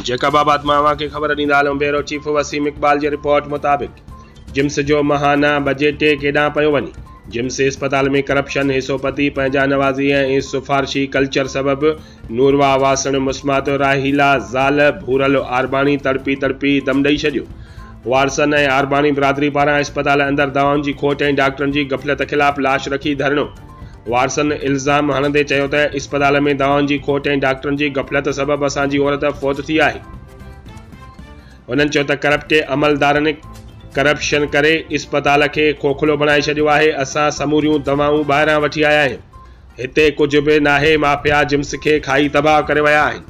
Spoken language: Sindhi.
جيڪب آباد مان اوهان کي خبر ڏيندا هلون بيورو چيف وسيم اقبال جي رپورٽ مطابق جمس جو ماهانه بجيٽ ڪيڏانهن پيو وڃي جمس اسپتال ۾ ڪرپشن حصو پتي پنهنجا نوازي ۽ سفارشي ڪلچر سبب نورواهه واسڻ مسمات راحيلا زال ڀورل آرباڻي تڙپي تڙپي دم ڏئي ڇڏيو وارثن ۽ آرباڻي برادري پاران اسپتال اندر دوائن جي کوٽ ۽ ڊاڪٽرن جي غفلت خلاف لاش رکي ڌرڻو وارثن الزام هڻندي چيو ته اسپتال ۾ دوائن جي کوٽ ۽ ڊاڪٽرن جي غفلت سبب اسان جي عورت فوت ٿي آهي هنن چيو ته ڪرپٽ عملدارن ڪرپشن ڪري اسپتال کي کوکلو بڻائي ڇڏيو آهي اسان سموريون دوائون ٻاهران وٺي آيا آهيون هتي ڪجهه به ناهي مافيا جمس کي کائي تباهه ڪري ويا آهن